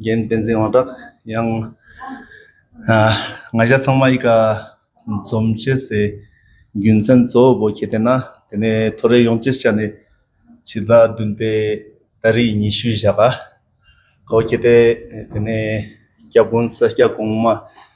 རྒན་བསྟན་འཛིན་དབང་གྲགས་ཡང། ང་ཤ་ཚང་མ་ཡི་ག་འཛོམས་བྱེད་ཟེར། རྒྱུ་མཚན་གཙོ་བོ་བོ་ཁྱེད་བསྟེན་ན་དེ་ནས་ཐོ་རེ་ཡོང་སྤྱིར་བྱ་ནི། ཕྱི་ཟླ་བདུན་པའི་ཟླ་རེའི་ཉི་ཤུའི་བཞག་ག། བོ་ཁྱེད་བསྟེན་དེ་ནས་སྐྱབས་དགོན་ས་སྐྱ་གོང་མ་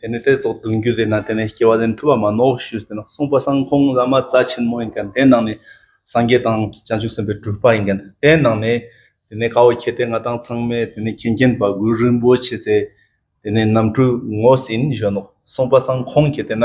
དེ་ནས་དེ་སོགས་བདུན་རྒྱུད་དེ་ན་དེ་ནས་སྐྱེ་བ་ལེན་ཐུབ་པ་མ་གནོག་ཞུས་ཟེར་ན་གསུངས་པ་སང་ཁོང་བླ་མ་རྩ་ཆེན་མོ་ཡིན་ཀྱང་དེ་ནང་ནས་སངས་རྒྱས་དང་བྱང་ཆུབ་སེམས་དཔའི་སྒྲུབ་པ་ཡིན་ཀྱང་དེ་ནང་ནས་དེ་ནས་ཁའོ་ཁྱེད་དེ་ང་དང་ཚང་མས་དེ་ནས་མཁྱེན་མཁྱེན་པ་གུ་རུ་རིན་པོ་ཆེ་ཚེ་དེ་ནས་རྣམ་འཕྲུལ་ངོ་ཟིན་བཞོན་ནོ་གསུངས་པ་སང་ཁོང་གིས་དེ་ན་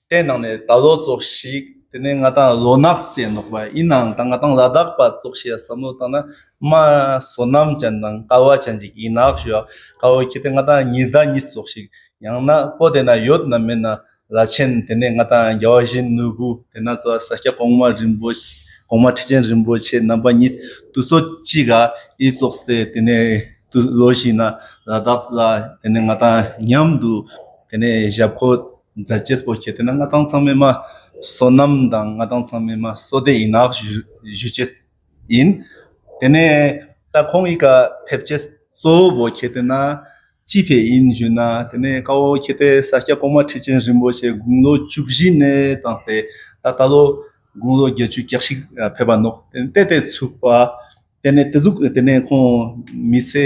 བསྟན་གནང་ནས་ད་ལོ་བཙོགས་ཤིག་དེ་ནས་ང་དང་ལོ་ནག་བཅས་འདོགས་པ་ཡིན་ནའང་ད་ང་དང་ལ་དྭགས་པ་བཙོགས་ཤིག་བསམ་བློ་བཏང་ན་རྨ་བཟོ་རྣམས་ཅན་དང་ཀ་བ་ཅན་གྱི་ཡིན་ནག་ཞུ་ཨ་ཁ་བོ་ཁྱེད་དེ་ང་དང་ཉིས་ཟླ་གཉིས་བཙོགས་ཤིག་ཡང་ན་པོ་དེ་ན་ཡོད་ནམ་མེད་ན་ལ་ཆེན་དེ་ནས་ང་དང་རྒྱ་བ་བཞིན་ནོར་བུ་དེ་ན་ཙོ་ས་སྐྱ་གོང་མ་རིན་པོ་གོང་མ་ཁྲི་ཆེན་རིན་པོ་ཆེ་རྣམ་པ་གཉིས་དུ་ཚོ་གཅིག་ག་ཨི་བཙོགས་སེ་དེ་ནས་དུ་ལོ་ཞིག་ན་ལ་དྭགས་ལ་དེ་ནས་ང་དང་མཉམ་དུ་དེ་ནས་ཞབས་ཁོ། རྫ་སྐྱེས་སྤོ་བྱེད་དེ་ན་མངའ་ཐང་ཚང་མེད་མ་སོ་ནམ་དང་མངའ་ཐང་ཚང་མེད་མ་སོ་སྡེ་ཡིན་ནག་བཞུ་བྱེད་ཡིན། དེ་ནས་ད་ཁོང་ཡི་ག་ཕེབས་བྱེད་གཙོ་བོ་བོ་བྱེད་དེ་ན་ཅི་ཕེ་ཡིན་བཞུ་ན་དེ་ནས་ཀ་བོ་བྱེད་དེ་ས་སྐྱ་གོང་མ་ཁྲི་ཆེན་རིན་པོ་ཆེ་དགུང་ལོ་བཅུ་བཞི་ནས་བཏང་སྟེ་ད་ད་ལོ་དགུང་ལོ་བརྒྱད་ཅུ་གྱ་ཞིག་ཕེབས་པ་ནོ་དེ་ནས་དེ་དེ་ཚུགས་པ་དེ་ནས་དེ་ཚུགས་དེ་ནས་ཁོང་མི་ཚེ།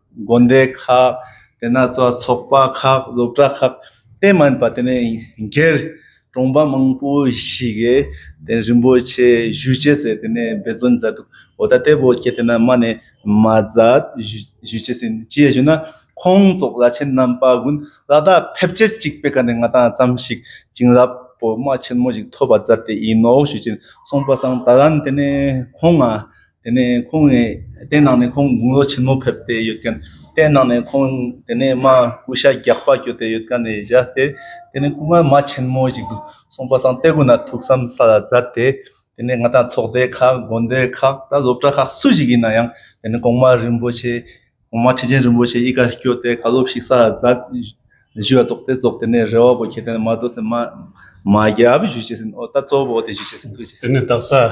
དགོན་སྡེ་ཁག་དེ་ན་ཚོ་ཚོགས་པ་ཁག་སློབ་གྲྭ་ཁག་དེ་མ་ཡིན་པ་དེ་ནས་སྒེར་གྲོང་པ་མང་པོ་ཞིག་གི་དེ་རིན་པོ་ཆེ་བཞུགས་ཆས་ཟེར་དེ་ནས་འབད་བརྩོན་མཛད་འདུག་འོ་ད་ལྟའི་བོད་སྐད་དེ་ན་མ་ནས་མ་མཛད་བཞུགས་ཆས་ཟིན་ཅི་ཡས་ཞུ་ན་ཁོང་ཚོགས་བླ་ཆེན་རྣམ་པ་ཀུན་ལ་ད་ཕེབས་སྐྱེལ་ཅིག་སྤེལ་ཀ་ནས་ང་དང་ཙམ་ཞིག་བྱིན་རླབས་པོ་མ་ཆེན་མོ་ཞིག་ཐོབ་པ་མཛད་དེ་ཡིན་ནོ་ཞུ་ཅིང་གསུངས་པ་སང་ད་ལན་དེ་ནས་ཁོང་ང་དེ་ནས་ཁོང་ནས་དེ་ནང་ནས་ཁོང་དགུང་ལོ་ཆེན་མོ་ཕེབས་ཏེ་ཡོད་མཁན་དེ་ནང་ནས་ཁོང་དེ་ནས་མ་སྐུ་ཤ་རྒྱག་པ་གྱོད་དེ་ཡོད་མཁན་ནས་བཞག་སྟེ་དེ་ནས་སྐུ་ངལ་མ་ཆེན་མོ་ཞིག་འདུག་སོང་པ་སང་སྟེ་གུ་ན་ཐུགས་བསམ་ས་ལ་གཟབ་སྟེ་དེ་ནས་ང་དང་ཚོགས་སྡེ་ཁག་དགོན་སྡེ་ཁག་དང་སློབ་གྲྭ་ཁག་སུ་ཞིག་ཡིན་ན་ཡང་དེ་ནས་གོང་མ་རིན་པོ་ཆེ་གོང་མ་ཁྲི་ཆེན་རིན་པོ་ཆེ་གཉིས་ཀ་གྱོད་དེ་ག་ལོ་ཞིག་ས་ལ་གཟབ་བཞུ་བ་རྫོགས་ཏེ་རྫོགས་དེ་ནས་རེ་བ་པོ་ཁྱེད་དེ་ནས་མ་བསྡོད་སེམས་མ་མ་རྒྱབ་བཞུ་བྱེད་སེམས་ཨོ་ད་གཙོ་བོ་དེ་བཞུ་བྱེད་སེམས་ཐུགས་རྗེ། དེ་ནས་བདག་ས།